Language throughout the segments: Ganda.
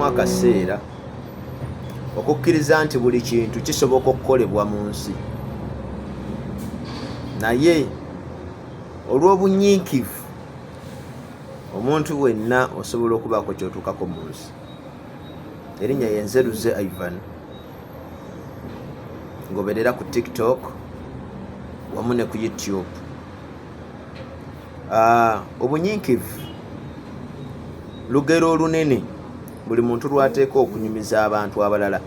akaseera okukkiriza nti buli kintu kisoboka okukolebwa mu nsi naye olw'obunyiikivu omuntu wenna osobola okubaako kyotuukako mu nsi erinnya yenzeruze ivan ngoberera ku tiktok wamu ne ku youtube Ah, obunyiikivu lugero olunene buli muntu lwateeka okunyumiza abantu abalala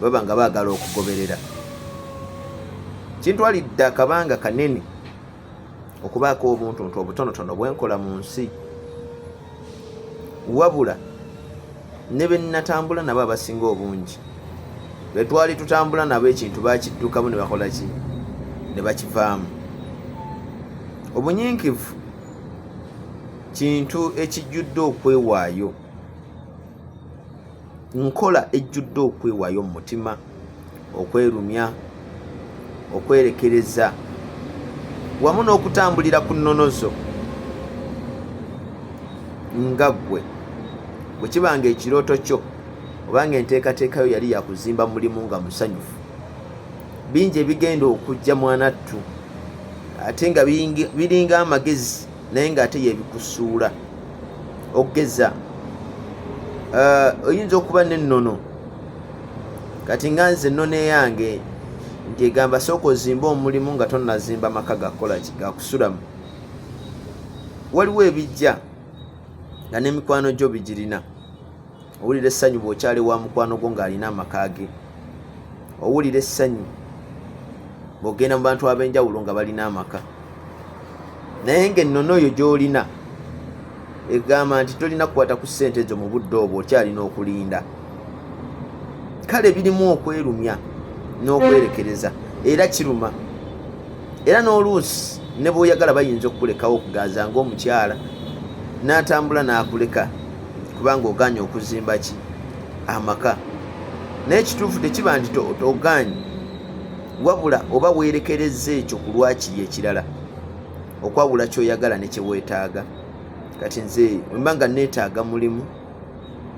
baba nga baagala okugoberera kintwalidde akabanga kanene okubaako obuntuntu obutonotono bwenkola mu nsi wabula ne be nnatambula nabo abasinga obungi be twali tutambula nabo ekintu bakiddukamu ne bakola ki ne bakivaamu obunyiikivu kintu ekijjudde okwewaayo nkola ejjudde okwewayo mu mutima okwerumya okwerekereza wamu n'okutambulira ku nnono zo nga ggwe bwe kiba nga ekirooto kyo obanga enteekateeka yo yali yakuzimba mulimu nga musanyufu bingi ebigenda okujja mwanattu ate nga biringa amagezi naye ng'ate yebikusuula okugeza eh, oyinza okuba n'ennono kati nga nze ennono eyange nti egamba sooka ozimba omulimu nga tonazimba maka gakukola ki gakusulamu waliwo ebijja nga n'emikwano gyo bigirina owulira essanyu bw'okyali wa mukwano gwo ng'alina amaka ge owulira essanyu bw'ogenda mu bantu ab'enjawulo nga balina amaka naye ng'ennono oyo gy'olina egamba nti tolina kukwata ku ssente ezo mu budde obwo okyalina okulinda kale birimu okwerumya n'okwerekereza era kiruma era n'oluusi ne bw'oyagala bayinza okukulekawo okuganza ng'omukyala n'atambula n'akuleka kubanga oganye okuzimba ki amaka naye kituufu tekiba nti oganye wabula oba weerekereza ekyo ku lwakiri ekirala okwawula kyoyagala ne kyeweetaaga kati nze mba nga neetaaga mulimu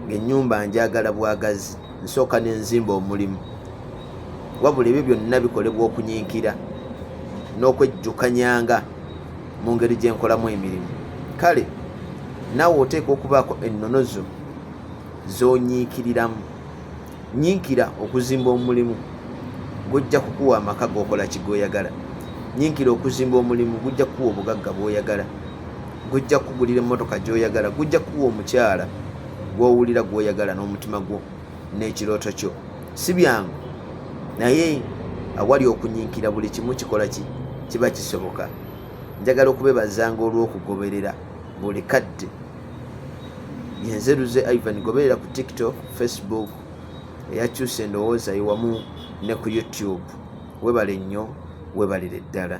ngaenyumba njagala bwagazi nsooka nenzimba omulimu wabula ebyo byonna bikolebwa okunyinkira n'okwejjukanyanga mu ngeri gye nkolamu emirimu kale naawe oteekwa okubaako ennono zo zonyiikiriramu nyiikira okuzimba omulimu gujja kukuwa amaka gokola kigoyagala nyiikira okuzimba omulimu gujja kukuwa obugagga bwoyagala gujja kukugulira emmotoka gyoyagala gujja kukuwa omukyala gwowulira gwoyagala n'omutima gwo n'ekirooto kyo si byangu naye awali okunyinkira buli kimu kikola ki kiba kisoboka njagala okubebazanga olw'okugoberera buli kadde yenzeruze ivan goberera ku tiktok facebook eyakyusa endowooza yewamu ne ku youtube webale nnyo webalire ddala